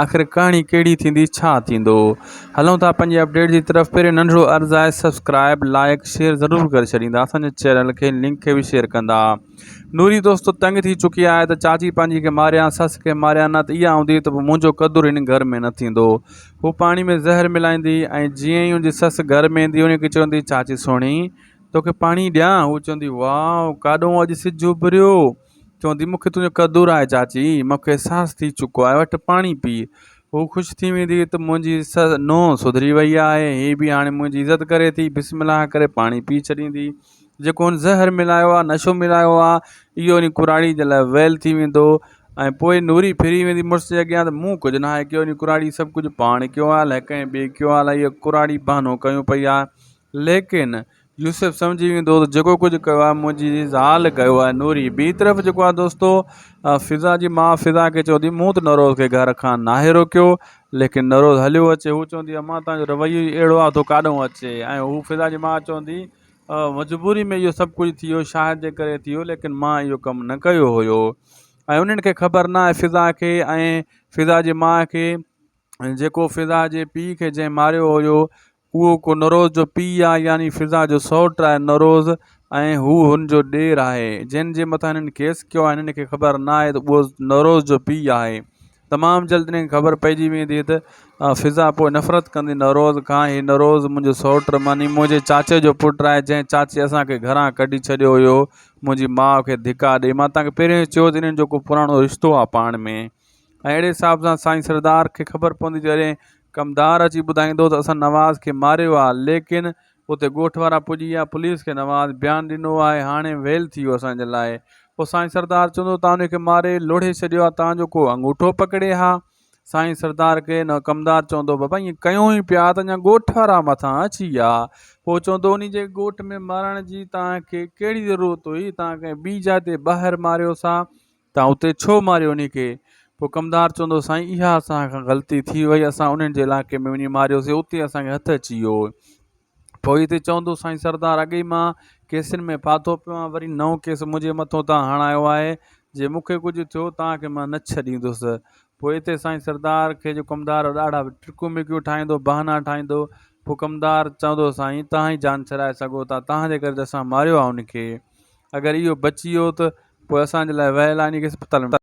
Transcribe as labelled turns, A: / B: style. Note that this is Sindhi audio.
A: آخر ڪهاڻي ڪهڙي ٿيندي ڇا ٿيندو هلون ٿا پنهنجي اپڊيٽ جي طرف پهرين ننڍڙو عرض آهي سبسڪرائب لائڪ شيئر ضرور ڪري ڇڏيندا اسان جي چينل کي لنڪ کي به شيئر ڪندا نوري دوستو تنگ ٿي چڪي آهي ته چاچي پنهنجي کي ماريان سس کي ماريان نه ته اها هوندي ته پوء منهنجو قدر هن گهر ۾ نه ٿيندو هو پاڻي ۾ زهر ملائيندي ۽ جيئن ئي هنجي سس گهر ۾ ايندي هنکي چوندي چاچي سهڻي توکي پاڻي ڏيان هو چوندي واء ڪاڏهون اڄ سج اڀريو چون ٿي، مون کي تنهنجو قدر آهي چاچي، مون کي احساس ٿي چڪو آهي، وٺ پاڻي پي. هوء خوش ٿي ويندي هئي ته منهنجي نونهن سڌري ويئي آهي، هي به هاڻي منهنجي عزت ڪري ٿي، بسم الله ڪري پاڻي پي ڇڏيندي. جيڪو هن زهر ملايو آهي، نشو ملايو آهي، اهو هن ڪراڙيء جي لاء ويل ٿي ويندو. ۽ پوء نوري ڦري ويندي مڙس جي اڳيان ته مون ڪجهه ناهي ڪيو، هن ڪراڙيء سڀ ڪجهه پاڻ ڪيو آهي، الائي ڪنهن ٻئي ڪيو آهي، الائي اها ڪراڙي بهانو ڪيون پئي آهي، ليڪن يوسف سمجهي ويندو ته جيڪو ڪجهه ڪيو آهي منهنجي زال ڪيو آهي نوري ٻي طرف جيڪو آهي دوستو فضا جي ماء فضا کي چوندي هئي مون ته نوروز کي گهر کان ناهي روڪيو ليڪن نوروز هليو اچي هو چوندي هئي ماء تنهنجو رويو ئي اهڙو آهي تون ڪاڏهون اچي ۽ هو فضا جي ماء چوندي مجبوري ۾ اهو سڀ ڪجهه ٿيو شاهد جي ڪري ٿيو ليڪن ماء اهو ڪم نه ڪيو هيو ۽ انهن کي خبر نه آهي فضا کي ۽ فضا جي ماء کي جيڪو فضا جي پيء کي جنهن ماريو هيو اهو ڪو نوروز جو پيء آهي يعني فضا جو سئوٽ آهي نوروز ۽ هو هن جو ڏير آهي. جنھن جي مٿان هنن ڪيس ڪيو آهي هنن کي خبر نه آهي ته اهو نوروز جو پيء آهي. تمام جلد هنن کي خبر پئجي ويندي ته فضا پوء نفرت ڪندي نوروز کان هي نوروز منھنجو سئوٽ معني منھنجي چاچي جو پٽ آهي جنھن چاچي اسان کي گھران ڪڍي ڇڏيو هيو منھنجي ماء کي ڌڪا ڏئي مان توهان کي پهريون ئي چيو ته هنن جو ڪو پراڻو رشتو آهي پاڻ ۾. ۽ اهڙي حساب سان سائين سردار کي خبر پوندي جڏهن ڪمدار اچي ٻڌائيندو ته اسان نواز کي ماريو آهي ليڪن اتي ڳوٺ وارا پڄي ويا پوليس کي نواز بيان ڏنو آهي هاڻي ويل ٿي ويو اسان جي لاء پوء سائين سردار چوندو توهان ان کي ماري لوڙهي ڇڏيو آهي توهان جو ڪو انگوٺو پڪڙي ها سائين سردار کي ڪمدار چوندو بابا ائين ڪيون ئي پيا ته اڃا ڳوٺ وارا مٿان اچي ويا پوء چوندو انهي جي ڳوٺ ۾ مارڻ جي توهان کي ڪهڙي ضرورت هئي توهان ڪنهن ٻي جاء تي ٻاهر ماريو سا تان اتي ڇو ماريو انهي کي؟ پوء ڪمدار چوندو سائين اها اسان کان غلطي ٿي وئي اسان انهن جي علائقي ۾ وڃي ماريوسين اتي اسان کي هٿ اچي ويو. پوء اتي چوندو سائين سردار اڳ ئي مان ڪيسن ۾ ڦاٿو پيو آهيان وري نئون ڪيس منهنجي مٿو تان هڻايو آهي جي مون کي ڪجهه ٿيو تان کي مان نه ڇڏيندس. پوء اتي سائين سردار کي جو ڪمدار ڏاڍا ٽرڪيون ميڪيون ٺاهيندو بهانا ٺاهيندو پوء ڪمدار چوندو سائين تهان ئي جان ڇڏائي سگهو ٿا تهان جي ڪري ته اسان ماريو آهي انهي کي. اگر اهو بچي ويو ته پوء اسان جي لاء ويل آني کي اسپتال ۾